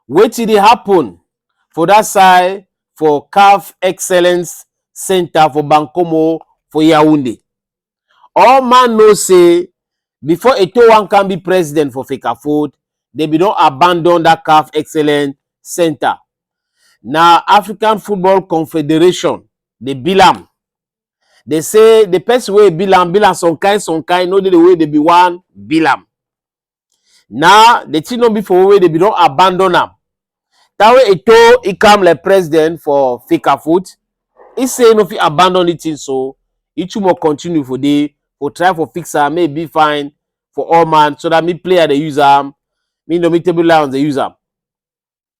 wetin dey happen for that side for caf excellence center for bankomo for yaounde all man know say before eto wan come be president for fecafold they bin don abandon that caf excellence center na african football confederation dey bill am They say the person wey be am be am some kind some kind no dey the way they be one be am. Now the thing no be for where they be don abandon am. Tawe Eto he come like president for Fika foot. He say no fit abandon the thing so he too more continue for dey for try for fix am make e be fine for all man so that me player dey use am me no me table lions dey use am.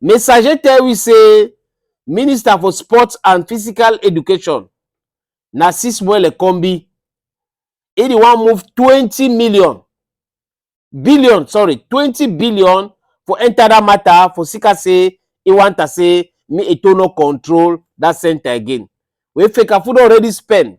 Messager tell we say Minister for Sports and Physical Education, Narcisse Mwele Kombi, he the one move 20 million, billion, sorry, 20 billion for enter that matter for Sika say he want to say me it no control that center again. We Fekafu don already spend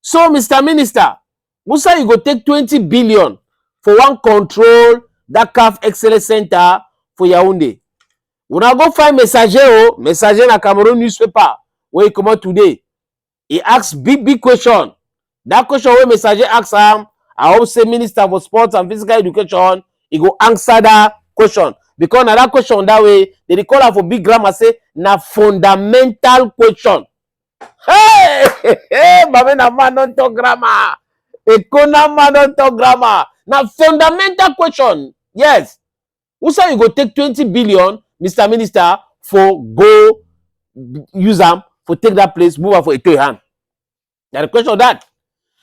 so mr minister musa you go take twenty billion for one control that caf excellence center for yaounde una go find messager o messager na cameroon newspaper wey e comot today e ask big big question that question wey messager ask am i hope say minister for sports and physical education e go answer that question because na that question that way they dey call am for big grammar say na fundamental question Hey, hey, hey, Mame na man don talk grammar. Ekona man don talk grammar. Na fundamental question. Yes. Who say you go take 20 billion, Mr. Minister, for go use am for take that place, move am for Eto hand? Na the question of that.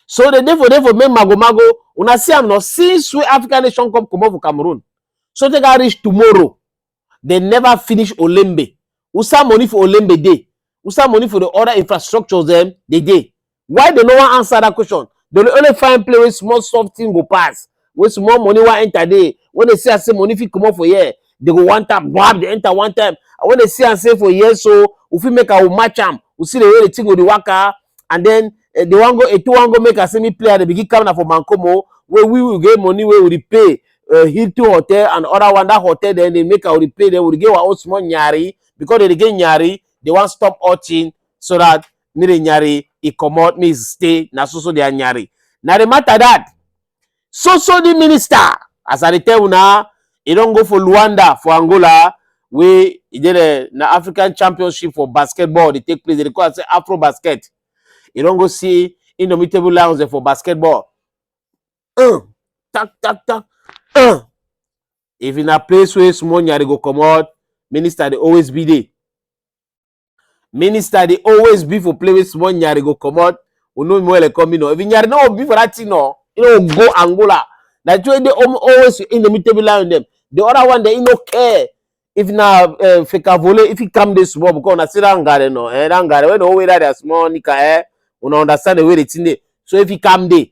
So the day for day for make mago mago, una see am now since we African nation come comot for Cameroon. So take am reach tomorrow. They never finish Olembe. Usa money for Olembe day. Usa money for the other infrastructures them they day. Why they no one answer that question? They dey only find play where small soft thing go pass, where small money wan enter there. When they see I say money fit comot for here, they go one time, grab they enter one time. And when they see I say for here, so we fit make I will match am. We see the way the thing go the waka, and then eh, they wan go, it wan go make I say me play and they begin come na for Mancomo where we will get money where we dey pay uh, Hilton Hotel and other one, that hotel, then they make our replay, then we get our own small nyari, because they get nyari, they want stop watching so that me the nyari, he come out, me stay, na so so they are nyari. Now the matter that, so so the minister, as I tell you now, he don't go for Luanda, for Angola, we he did a na African championship for basketball, they take place, they call it Afro basket. You don't go see indomitable lions for basketball. uh, tak tak tak uh. if na place wey small nyari go comot minister dey always be there minister dey always be for place wey small nyari go comot we no know where come me no if nyari no be for that thing no you no go angola na the way dey always in the middle line dem the other one dey no care if na uh, eh, fekavole if he come dey small because na still that ngare no eh that ngare wey no wey that small nika eh una understand the way the thing dey so if he come dey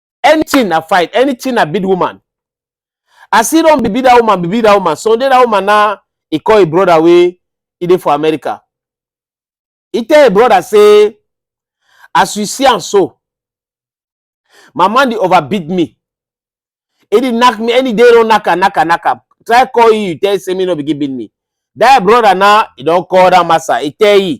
anything na fight anything na beat woman as e don be beat that woman be beat that woman sunday that woman na e call e brother wey e dey for america e tell e brother say as you see am so my man dey overbeat me e dey knack me any day don knack am knack am knack am try call you you tell say me no begin beat me that brother na e don call that master e tell you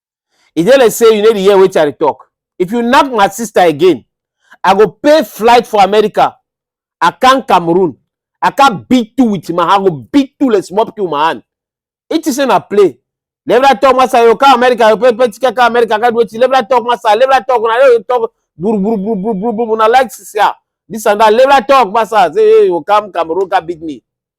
E dey like say you no dey hear wetin I dey talk. If you knack my sister again, I go pay flight for America, I come Cameroon, I come beat you with my hand, I go beat you like small pikin with my hand. You think say na play? Liberal talk master, you go come America, you pay pay ticket come America, come do wetin? Liberal talk master, liberal talk, una just dey talk buru buru buru buru buru buru, una like sia, this and that, liberal talk master, say you go come Cameroon come beat me.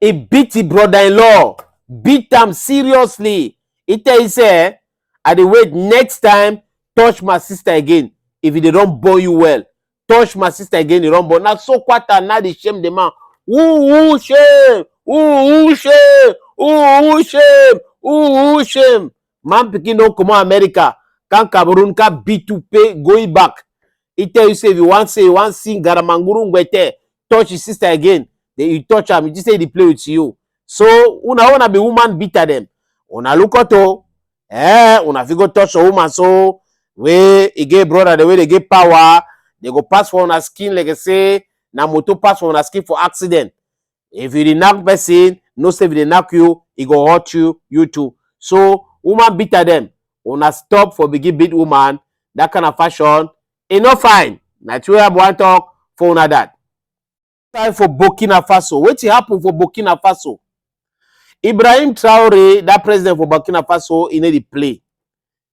e beat e brother-in-law, beat am seriously. E tell e say, eh, I dey wait next time touch my sister again if e dey don born you well. Touch my sister again, e don born. Na so kwata na dey shame the man. Ooh, shame! Ooh, shame! Ooh, shame! Ooh, shame! Man pikin don comot America, come Cameroon, come beat you pay going back. he tell you say if you wan say you wan sing garamanguru ngwete touch his sister again then you touch am you just say he dey play with you so una una be woman beater dem una look out o eh una fit go touch your woman so wey e get brother dem wey dey get power dey go pass for una skin like say na motor pass for una skin for accident If you dey knack person, know say if dey knack you, e go hurt you, you too. So woman beater dem, una stop for begin beat woman, that kind of fashion, e no fine. Na true I wan talk for una that. Time for Burkina Faso. Wetin happen for Burkina Faso? Ibrahim Traore, that president for Burkina Faso, e no dey play.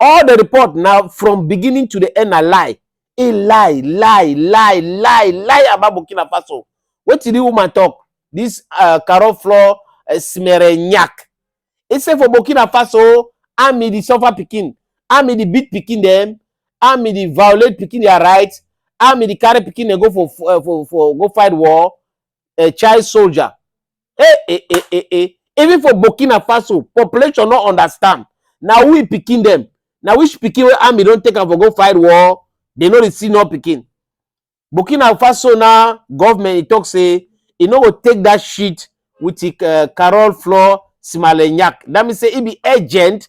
all the report na from beginning to the end na lie e lie lie lie lie lie about burkina faso wetin the woman talk this uh, carol floor uh, smerenyak e say for burkina faso army dey suffer pikin army dey beat pikin dem army dey violate pikin their right army dey carry pikin dem go for uh, for for go fight war a child soldier. Hey, hey, hey, hey, hey. Even for Burkina Faso, population no understand. Na who e pikin dem? Na which pikin wey army don take am for go fight war? They no dey see no pikin. Burkina Faso na government e talk say e no go take that shit with e, uh, Carol Flor Simalenyak. That means say e be agent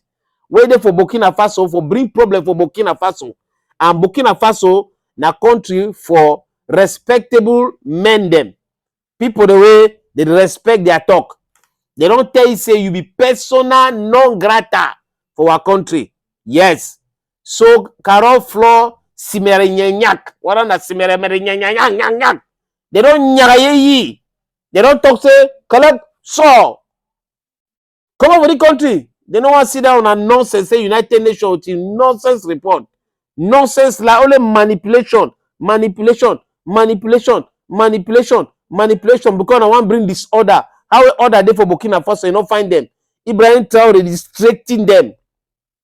wey dey for Burkina Faso for bring problem for Burkina Faso. And Burkina Faso na country for respectable men dem people the way they dey respect their talk they don tell you say you be persona non grata for our country yes so carol floor simerenyanyak whether na simeremerenyanyanyanyanyak they don nyaraye yi they don talk say collect saw comot for di country dem no wan sit down na nonsense say united nations with im nonsense report nonsense lie only manipulation manipulation manipulation manipulation manipulation because na wan bring disorder how order dey for burkina faso e no find dem ibrahim traore distracting dem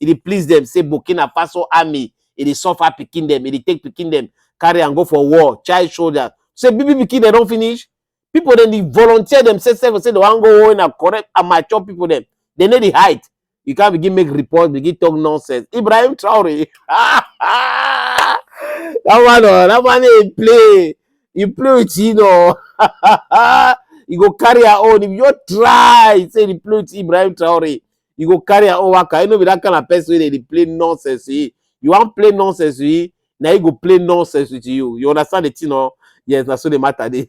e dey please dem say burkina faso army e dey suffer pikin dem e dey take pikin dem carry am go for war child soldiers say big big pikin dem don finish people dem dey volunteer themselves sef say dem wan go war na correct and mature people dem dem no dey hide you can begin make report begin talk nonsense ibrahim traore that one oh that one dey play you play with him oh you go carry your own if you just try say you play with ibrahim traore you go carry your own waka you no be that kind of person wey dey dey play nonsense with you wan play nonsense with you na you go play nonsense with you you understand the thing o yes na so the matter dey.